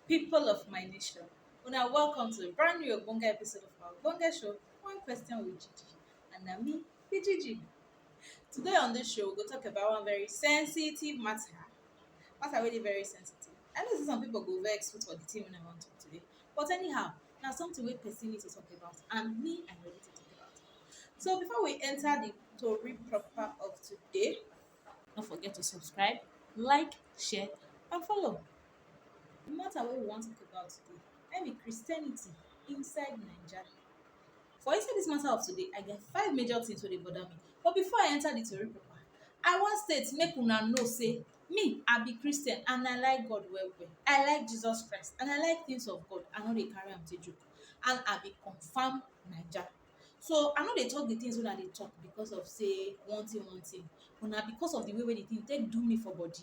People of my nation, una welcome to a brand new ogbonge episode of our ogbonge show, One Question with Gigi. And na me be Gigi. Today on this show, we go talk about one very sensitive matter. Matter wey dey very sensitive. I know sey some people go vex put for the thing wey I wan talk today. But anyhow, na something wey person need to talk about and me I ready to talk about. So before we enter the story proper of today, don't forget to subscribe, like, share, and follow. The matter wey we wan talk about today, na im be Christianity inside Naija. For inside this matter of today, I get five major things wey dey bother me. But before I enter the tori proper, I wan state make una know say me I be Christian and I like God well well. I like Jesus Christ and I like things of God. I no dey carry am take joke and I be confirm Naija. So I no dey talk the things wey I dey talk because of sey one thing one thing but na because of the way wey the thing take do me for body.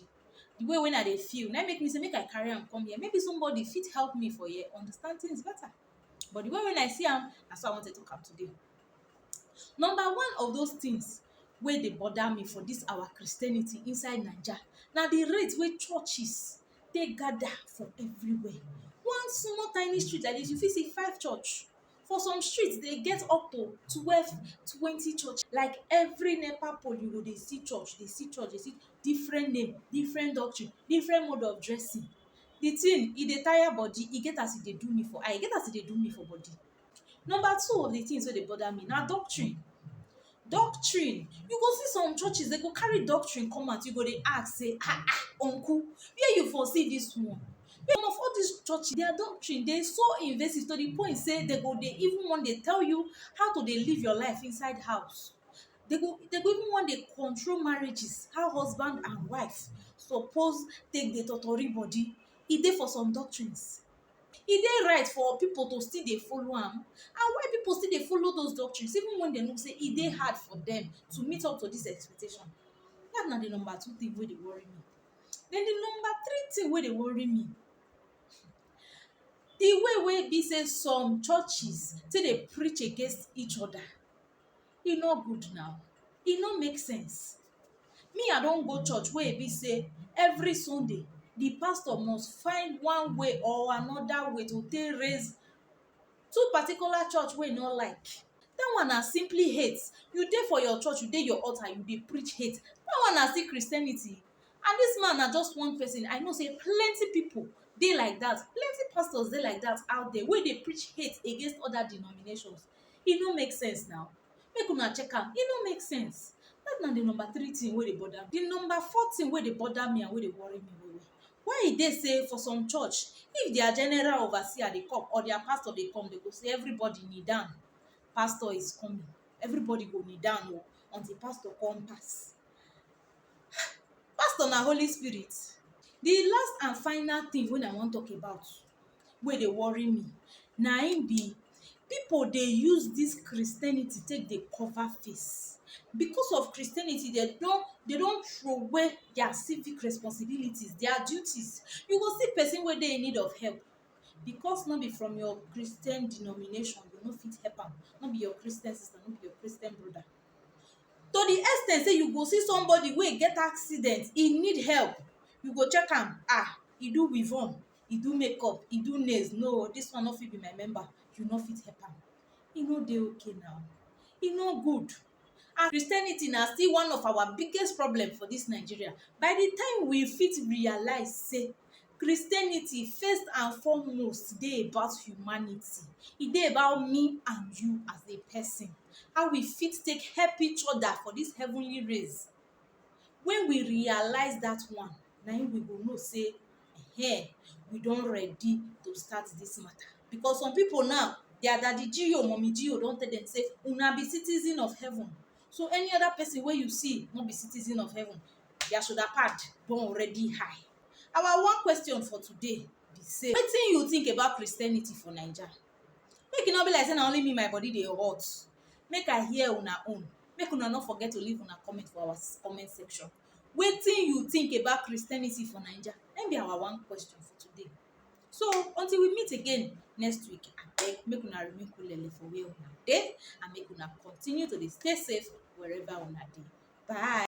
The way wey I dey feel na im make me sey make I carry am come here maybe somebody fit help me for here understand things better. But the way wey I see am na so I wan take talk am today. Number one of those things wey dey bother me for dis our Christianity inside Naija na the rate wey churches take gather for everywhere. One small tiny street like dis you fit see five church For some streets dey get up to twelve twenty church like every nepa pole you go dey see church dey see church dey see different name different doctrine different mode of dressing the thing e dey tire body e get as e dey do me for eye e get as e dey do me for body number two of the things wey dey bother me na doctrine Doctrine, you go see some churches dem go carry doctrine come out you go dey ask sey ah ah uncle where you for see dis one? Some of all dis churches dia doctrine dey so invasive to de point sey dem go dey even wan dey tell you how to dey live your life inside house. Dem go dem go even wan dey control marriages, how husband and wife suppose take dey totori body, e dey for some doctrines. E dey right for pipu to still dey follow am? And why pipu still dey follow those doctrines even wen dem know sey e dey hard for dem to meet up to dis expectation? Dat na di number two tin wey dey worry me. Den di number three tin wey dey worry me, di way wey e be sey some churches take dey preach against each oda. e no good now e no make sense me i don go church wey e be say every sunday the pastor must find one way or another way to take raise two particular church wey e no like that one na simply hate you dey for your church you dey your altar you dey preach hate that one na still christianity and this man na just one person i know say plenty people dey like that plenty pastors dey like that out there wey dey preach hate against other denominations e no make sense now make una check am e no make sense dat na di number three tin wey dey bother me di number four tin wey dey bother me and wey dey worry me well well why e dey say for some church if dia general overseer dey come or dia pastor dey come dem go say everybody kneel down pastor is coming everybody go kneel down o until pastor come pass pastor na holy spirit di last and final tin wey I wan talk about wey dey worry me na im be pipo dey use dis christianity take dey cover face because of christianity dem don dem don troway dia civic responsibility dia duties you go see pesin wey dey in need of help because no be from your christian denomination you no fit help am no be your christian sister no be your christian broda to di ex ten t sey you go see somebody wey get accident e need help you go check am ah e do weavon e do makeup e do nails no this one no fit be my member you no fit help am e no dey okay na e no good and Christianity na still one of our biggest problem for this Nigeria by the time we fit realize say Christianity first and foremost dey about humanity e dey about me and you as a person how we fit take help each other for this heavenly race when we realize that one na him we go know say ehen, we don ready to start dis matter because some people now, their daddy G o mummy G o don tell dem say una be citizen of heaven so any other person wey you see no be citizen of heaven their shoulder pad don already high. Our one question for today be sey wetin you think about Christianity for Naija? Make e no be like sey na only me my body dey hot, make I hear una own, make una no forget to leave una comment for our comment section. wetin you think about Christianity for Naija? Na im be our one question for today. So until we meet again next week, abeg make una remain kulele for where una dey and make una continue to dey stay safe wherever una dey. Bye.